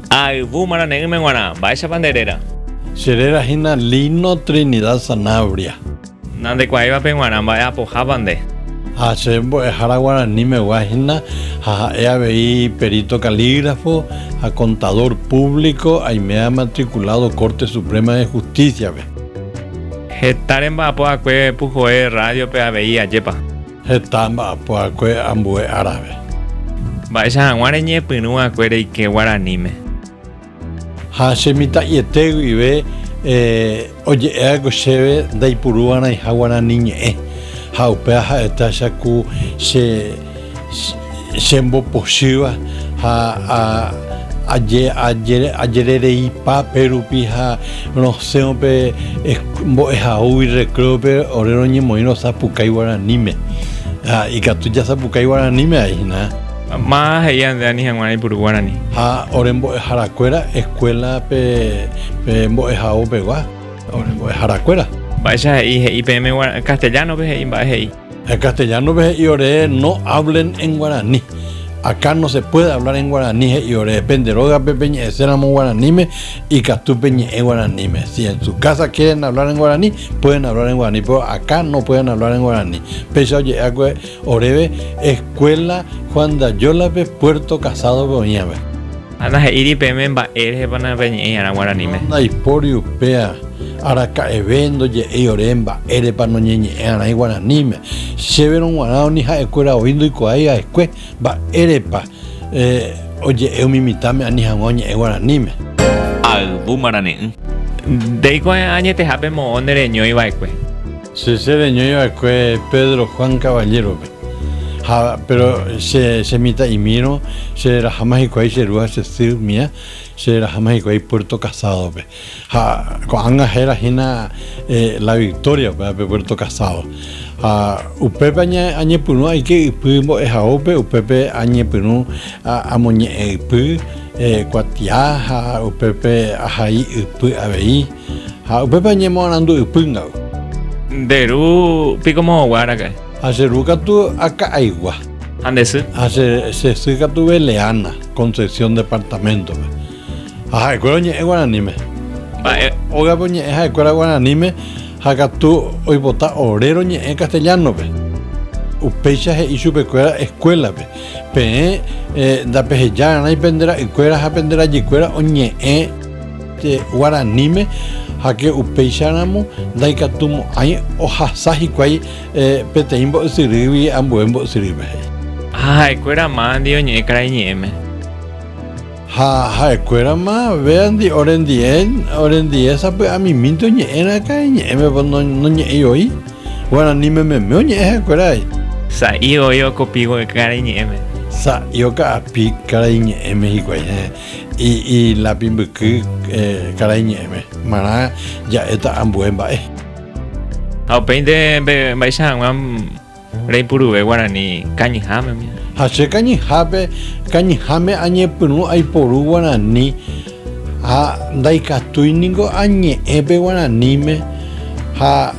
Ha ayvu marane'ỹme g̃uarã, mba'éichapa nde réra? Che réra hína Lino Trinidad Sanabria. Nandekuaáivape g̃uarã, mba'e apohápa nde? Ha che mbo'ehára guaranimegua hína ha ha'e avei perito calígrafo ha contador público, aime amatriculado Corte Suprema de Justicia-pe. Heta remba'apo akue puhoe radio-pe avei ajépa? Heta mba'apoakue ambue árape. Mba'éicha hag̃ua reñepyrũ va'ekue reike guaraníme. Ha che mitã'iete guive oje'éva'ekue chéve ndaipuru va'erãiha guarani ñe'ẽ ha upéva ha'étacha ku che chembopochýva ha ajerereipa pérupi ha rosẽvo pe mbo'ehaógui recréope ore roñemoĩ rosapukái guaraníme ha ikatu jasapukái guaraníme aína. Má'a he'i ande ani hag̃ua reipuru guarani. Ha ore mbo'eharakuéra eskuéla pe mbo'ehaópegua ore mbo'eharakuéra. Mba'éicha he'i he'i peẽme castellano-pe he'i mba'e he'i. En castellano pe he'i ore no hablen en guaraní. Acá no se puede hablar en guaraní he'i ore. Pende rógape peñe'ẽséramo guaraníme ikatu peñe'ẽ guaraníme. Si en su casa quieren hablar en guaraní, pueden hablar en guaraní, pero acá no pueden hablar en guaraní. Péicha oje'éva'ekue oréve escuela Juan de Ayólape Puerto Casádope oĩvape. Ha nahe'íri peẽme mba'e rehepa napeñe'ẽ iarã guaraníme. Ndaipóri upéa, araka'eve ndoje'éi ore mba'érepa noñeñe'ẽ'arãi guaraníme. Chéverõ g̃uarã uni ha'ekuéra oĩ ndoikuaái ha'ekue mba'érepa oje'e umi mitãme ani hag̃ua oñe'ẽ guaraníme. Ha ayvu marane'ỹ. Ndeikuaái añetehápe moõ nde reñói va'ekue. Che, che reñói va'ekue Pedro Juan Caballero-pe. Ha péro che, che mitã'imírõ, che raháma hikuái che ru ha che sy mía, che raháma hikuái Puerto Casádope. Ha ko'ág̃a héra hína La Victoria pévape Puerto Casádo. Ha upépe aña, añepyrũ aike ypy mbo'ehaópe, upépe añepyrũ amoñe'ẽ ypy kuatia ha upépe ahai ypy avei. Ha upépe añemoarandu ypýngagui. Nde ru piko moõguáraka'e. Ha che ru katu aka'aigua. Ha nde sy. Ha che sy katu Beleana, Concepción departamento-pe. Ha ha'ekuéra oñe'ẽ guaraníme. Mba'e. Ógape oñe'ẽ ha'ekuéra guaraníme ha katu oipota ore roñe'ẽ castellano-pe. Upéicha he'i chupekuéra escuela-pe, Peẽ ndapeheja rarãi pende ra'ykuéra ha pende rajykuéra oñe'ẽ guaraníme, háke upéicharamo ndaikatumo'ãi ohasa hikuái. Peteĩ mbo'esyrýgui ambue mbo'esyrýme he'i. Ha ha'ekuérama andi oñe'ẽ karai ñe'ẽme. Ha ha'ekuérama véandi orendie, orendie sapy'amimínte oñe'ẽrã karai ñe'ẽmepa noñe'ẽi voi. Guarani mememe oñe'ẽ ha'ekuéra he'i. Sa'i voi okopígui karai ñe'ẽme. Sa'i oka'api karai ñe'ẽme hikuái heẽ, ilápi mbyky karai ñe'ẽme. Marã ja'éta ambue mba'e. Ha upéinte mbe, mba'éicha hag̃ua reipuruve guarani kañyháme. Ha che kañyhápe, kañyháme añepyrũ aiporu guarani ha ndaikatúi ningo añe'ẽ pe guaraníme ha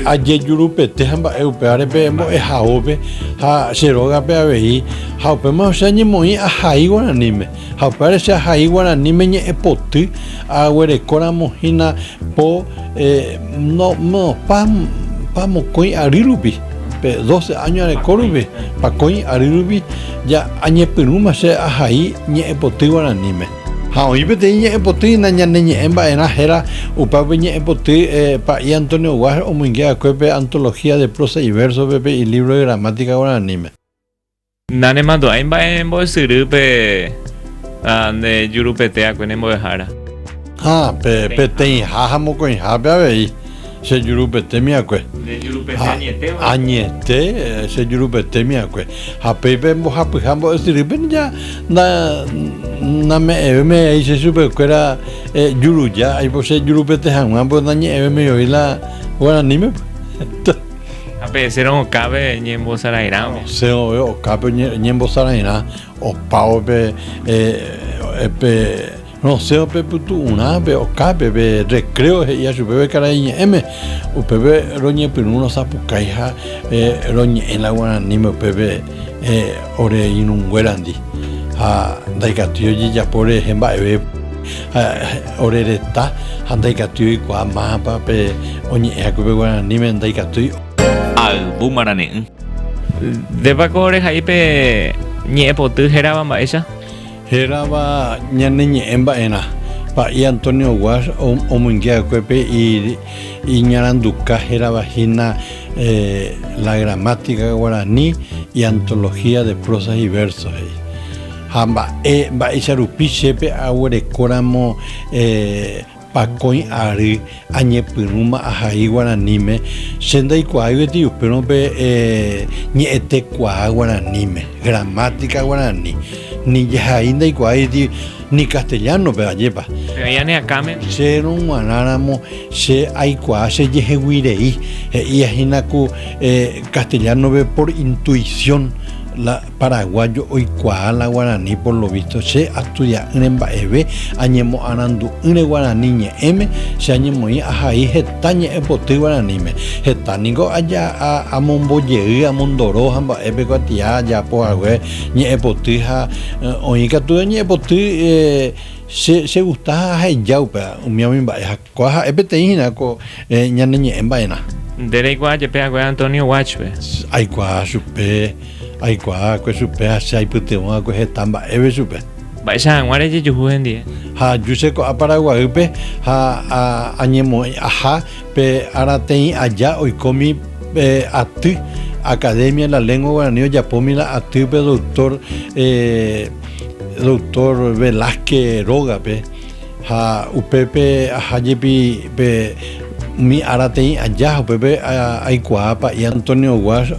ajejurupete ha mba'e upévare pe mbo'ehaópe ha che rógape avei ha upémarõ che añemoĩ ahai guaraníme. Ha upévare che ahai guaraníme ñe'ẽpoty aguerekóramo hína po pa mokõi ary rupi, pe doce áño areko rupi, pakõi ary rupi, añepyrũma che ahai ñe'ẽpoty guaraníme. Ha oĩ peteĩ ñe'ẽpoty hína ñane ñe'ẽ mba'erã héra, upe pe ñe'ẽpoty pa'i Antonio Guaj omoinge va'ekue pe Antología de prosa y verso-pe pe ilívro de gramática guaraníme. Nanemandu'ái mba'e mbo'esyry pe nde jurupeteakue ne mbo'ehára. Ha, pe peteĩha ha mokõihápe avei che jurupetémiakue. Nde jurupete añete oĩ. Añete che jurupetémiakue. Ha péi pe mbohapyha mbo'esyry pe ja name'ẽvéme oĩ che chupe kuéra juruja, aipo che jurupete haguã, pórke nañe'ẽvéme oĩ la guaraníme. Ha pe'esérõ okápe ñembosarãirã. Osẽvove okápe ñembosarãirã opávo pe pe rosẽvo pe pytu'urã pe okápe pe recreo he'íva chupe pe karai ñe'ẽme upépe roñepyrũ rosapukái ha roñe'ẽ la guaraníme upépe ore irũnguérandi ha ndaikatúi ojejapo rehe mba'eve Ha ore reta ha ndaikatúi oikuaa mápa pe oñe'ẽ haku pe guaraníme, ndaikatúi. Ayvu marane'ỹ. Ndépa ko rehai pe ñe'ẽpoty hérava mba'éicha? Hérava ñane ñe'ẽ mba'erã. Pa'i Antonio Guas omyngé va'ekue pe iñaranduka hérava hína La gramática guaraní y antología de prosas y versos he'i. Ha mba'e mba'éicha rupi chépe aguerekóramo pakõi ary añepyrũma ahai guaraníme, che ndaikuaáivo etei upérõ pe ñe'ẽtekuaa guaraníme, gramática guarani, ni jahai ndaikuaái etei ni castellano-pe, ajépa. Pe oĩ ani akãme. Che rog̃uarãramo che aikuaa chejehegui rei, he'íahína ku castellano-pe por intuición, la Paraguayo oikuaa la guarani por lo visto che astudia'ỹre mba'eve añemoarandu'ỹre guarani ñe'ẽme che añemoĩ ahai heta ñe'ẽpoty guaraníme heta niko aja amombojey amondoro ha mba'épe kuatia ajaapo hague ñe'ẽpoty ha oĩ katu ñe'ẽpoty che che gusta ha aheja upe umi umi mba'e ha kua ha'e peteĩ hína ko ñane ñe'ẽ mba'erã. Nde reikuaa jepe hague Antonio Watch-pe. Aikuaa chupe. Aikuaákue chupe ha che aipytyvõakue heta mba'eve chupe. Mba'éicha hag̃ua rejejuhu hendie. Ha aju che ko'ã Paraguaýpe ha añemoĩ aha pe ára teĩ aja oikómi pe aty Academia de la Lengua Guaraní ojapómi la aty pe doctor, doctor Velázquez rógape ha upépe aha jepi pe umi ára teĩ aja ha upépe aikuaa pa'i Antonio Guáš.